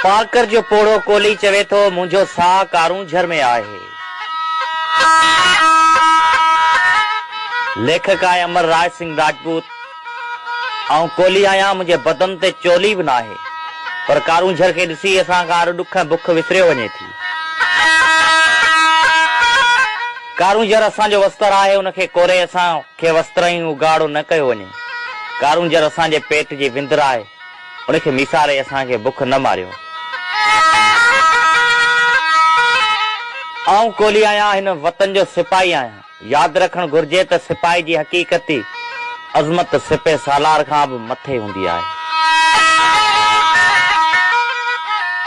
پارڪر جو پوڙهو ڪولهي چوي ٿو، منهنجو ساهه ڪارونجهر ۾ آهي. ليکڪ آهي امر راء سنگهه راجپوت، آئون ڪولهي آهيان، منهنجي بدن تي چولي به ناهي، پر ڪارونجهر کي ڏسي اسان کان هر ڏک ۽ بک وسريو وڃي ٿي. ڪارونجهر اسان جو وستر آهي، ان کي ڪوري اسان. کي وسترن ئي اگهاڙو نه ڪيو وڃي. ڪارونجهر اسان جي پيٽ جي وندر آهي، ان کي ميساري اسان کي بک نه ماريو. آئون ڪولهي آهيان، هن وطن جو سپاهي آهيان. ياد رکڻ گهرجي ته سپاهي جي حقيقتي عظمت سپهه سالار کان به مٿي هوندي آهي.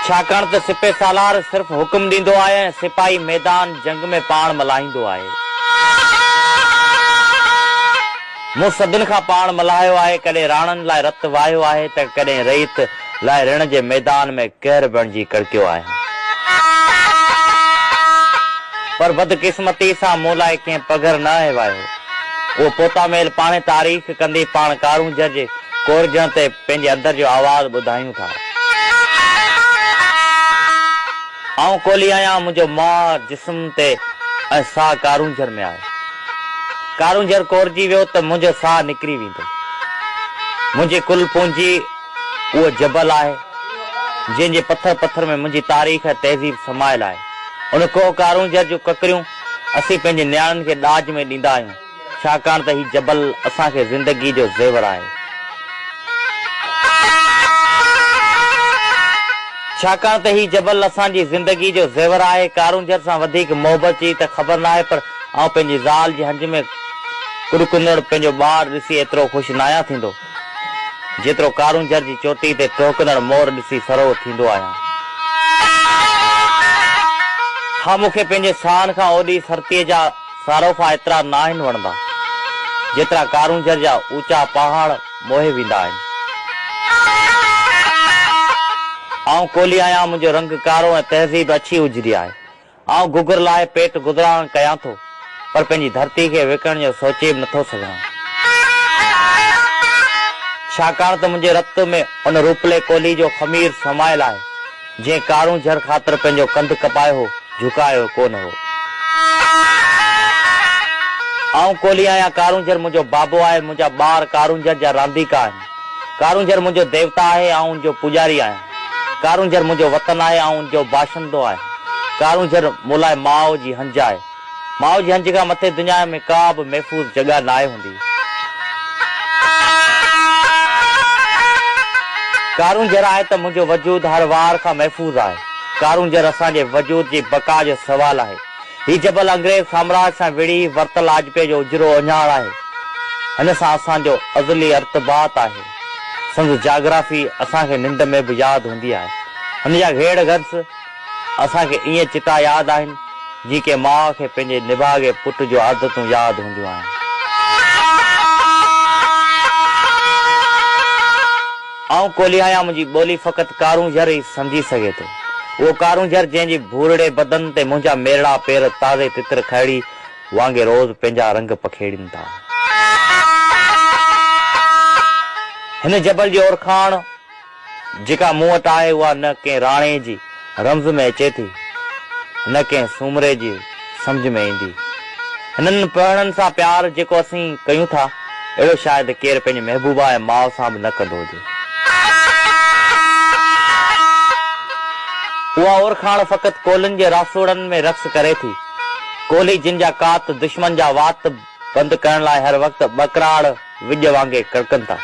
ڇاڪاڻ ته سپهه سالار صرف حڪم ڏيندو آهي ۽ سپاهي ميدان. جنگ ۾ پاڻ ملهائيندو آهي. مون صدين کان پاڻ ملهايو آهي، ڪڏهن راڻن لاء رت وهايو آهي ته ڪڏهن رعيت لاء رڻ جي ميدان ۾ قهر بڻجي ڪڙڪيو آهيان. پر بدقسمتي سان مون لاء ڪنهن پگهر نه آهي واهيو. اهو پوتا ميل پاڻهي تاريخ ڪندي پاڻ ڪارونجهر جي ڪورجڻ تي پنهنجي اندر جو آواز ٻڌايون ٿا. آئون ڪولهي آهيان، منهنجو ماهه جسم تي ۽ ساهه ڪارونجهر ۾ آهي. ڪارونجهر ڪورجي ويو ته منهنجو ساهه نڪري ويندو. منهنجي ڪل پونجي اهو جبل آهي، جنهن جي پٿر پٿر ۾ منهنجي تاريخ ۽ تهذيب سمايل آهي. ان ڪوهه ڪارونجهر جون ڪڪريون اسين پنهنجي نياڻين کي ڏاج ۾ ڏيندا آهيون. ڇاڪاڻ ته هي جبل اسان کي زندگيء جو زيور آهي. ڇاڪاڻ ته هي جبل اسان جي زندگيء جو زيور آهي. ڪارونجهر سان وڌيڪ محبت جي ته خبر ناهي پر آئون پنهنجي زال جي هنج ۾ ڪڙڪندڙ پنهنجو ٻار ڏسي ايترو خوش ناهيان ٿيندو، جيترو ڪارونجهر جي چوٽي تي ٽهڪندڙ مور ڏسي سرهو ٿيندو آهيان. ها مون کي پنهنجي ساهن کان اوڏي سرتيء جا صاروفا ايترا ناهن وڻندا، جيترا ڪارونجهر جا اوچا پهاڙ موهي ويندا آهن. آئون ڪولهي آهيان، منهنجو رنگ ڪارو ۽ تهذيب اڇي اجري آهي. آئون گگهر لاهي پيٽ گذران ڪيان ٿو، پر پنهنجي ڌرتي کي وڪڻڻ جو سوچي به نٿو سگهان. ڇاڪاڻ ته منهنجي رت ۾ ان روپلي ڪولهي جو خمير سمايل آهي. جنهن ڪارون جھر خاطر پنهنجو ڪنڌ ڪپايو هو، جھڪايو ڪو نه هو. آئون ڪولهي آهيان، ڪارون جھر منهنجو بابو آهي، منهنجا ٻار ڪارون جھر جا رانديڪا آهن. ڪارون جھر منهنجو ديوتا آهي، آئون ان جو پوڄاري آهيان. ڪارون جھر منهنجو وطن آهي، آئون ان جو باشندو آهيان. ڪارون جھر مون لاء ماء جي هنج آهي. ماء جي هنج کان مٿي دنيا ۾ ڪا به محفوظ جڳهه ناهي هوندي. ڪارونجهر آهي ته منهنجو وجود هر وار کان محفوظ آهي. ڪارونجهر اسان جي وجود جي بقا جو سوال آهي. هي جبل انگريز سامراج سان وڙهي ورتل آجپي جو اجرو اهڃاڻ آهي. هن سان اسان جو ازلي ارتباط آهي. سنڌ جاگرافي اسان کي ننڊ ۾ به ياد هوندي آهي. هن جا گهيڙ گهنس. اسان کي ائين چٽا ياد آهن، جيئن ڪنهن ماء کي پنهنجي نڀاڳي پٽ جون عادتون ياد هونديون آهن. آئون ڪولهي آهيان، منهنجي ٻولي فقط ڪارونجهر ئي سمجهي سگهي ٿو. اهو ڪارونجهر جنهن جي ڀورڙي بدن تي منهنجا ميرڙا پير تازي تتر کهڙي وانگي روز پنهنجا رنگ پکيڙين ٿا. هن جبل جي اورکاڻ. جيڪا مون وٽ آهي اها نه ڪنهن راڻي جي رمز ۾ اچي ٿي نه ڪنهن سومري جي سمجهه ۾ ايندي. هنن پهڻن سان پيار جيڪو اسين ڪيون ٿا اهڙو شايد ڪير پنهنجي محبوبا ۽ ماء سان به نه ڪندو هجي. اها اورکاڻ فقط ڪولهين جي راسوڙن ۾ رقص ڪري ٿي. ڪولهي جن جا ڪات دشمن جا وات پنڌ ڪرڻ لاء هر وقت ٻڪراڙ وڄ وانگي ڪڙڪن ٿا.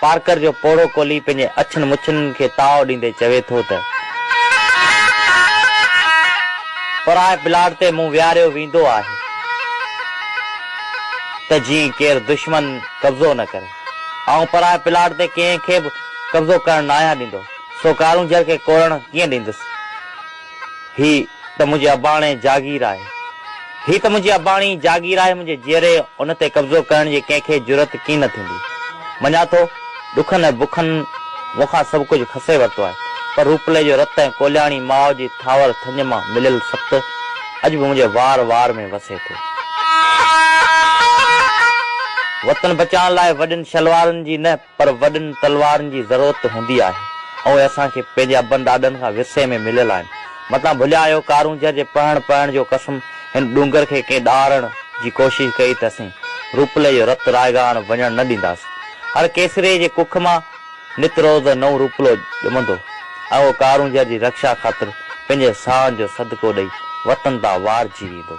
پارڪر جو پوڙهو ڪولهي پنهنجي اڇن مڇن کي تاء ڏيندي چوي ٿو ته. پرائي پلاٽ تي مون ويهاريو ويندو آهي ته جيئن ڪير دشمن قبضو نه ڪري. آئون پرائي پلاٽ تي ڪنهن کي به قبضو ڪرڻ ناهيان ڏيندو، سو ڪارونجهر کي ڪوڙڻ ڪيئن ڏيندس. هي ته منهنجي اباڻي جاگير آهي. هي ته منهنجي اباڻي جاگير آهي منهنجي جيئري ان تي قبضو ڪرڻ جي ڪنهن کي جرئت ڪين نه ٿيندي. مڃان ٿو ڏکن ۽ بکن مون کان سڀ ڪجهه کسي ورتو آهي پر روپلي جو رت ۽ ڪولياڻي ماء جي ٿاور ٿڃ مان مليل ست اڄ به منهنجي وار وار ۾ وسي ٿو. وطن بچائڻ لاء وڏين شلوارن جي نه پر وڏن تلوارن جي ضرورت هوندي آهي ۽ اهي اسان کي پنهنجي ابن ڏاڏن کان ورثي ۾ مليل آهن. متان ڀليا اهو ڪارونجهر جي پهڻ پهڻ جو قسم هن ڏونگر کي ڪنهن ڏاهرڻ جي ڪوشش ڪئي ته اسين روپلي جو رت رائگان وڃڻ نه ڏينداسين. هر ڪيسري جي ڪک مان نت روز نئون روپلو ڄمندو ۽ اهو ڪارونجهر جي رڪشا خاطر پنهنجي ساهن جو صدقو ڏئي وطن تان وارجي ويندو.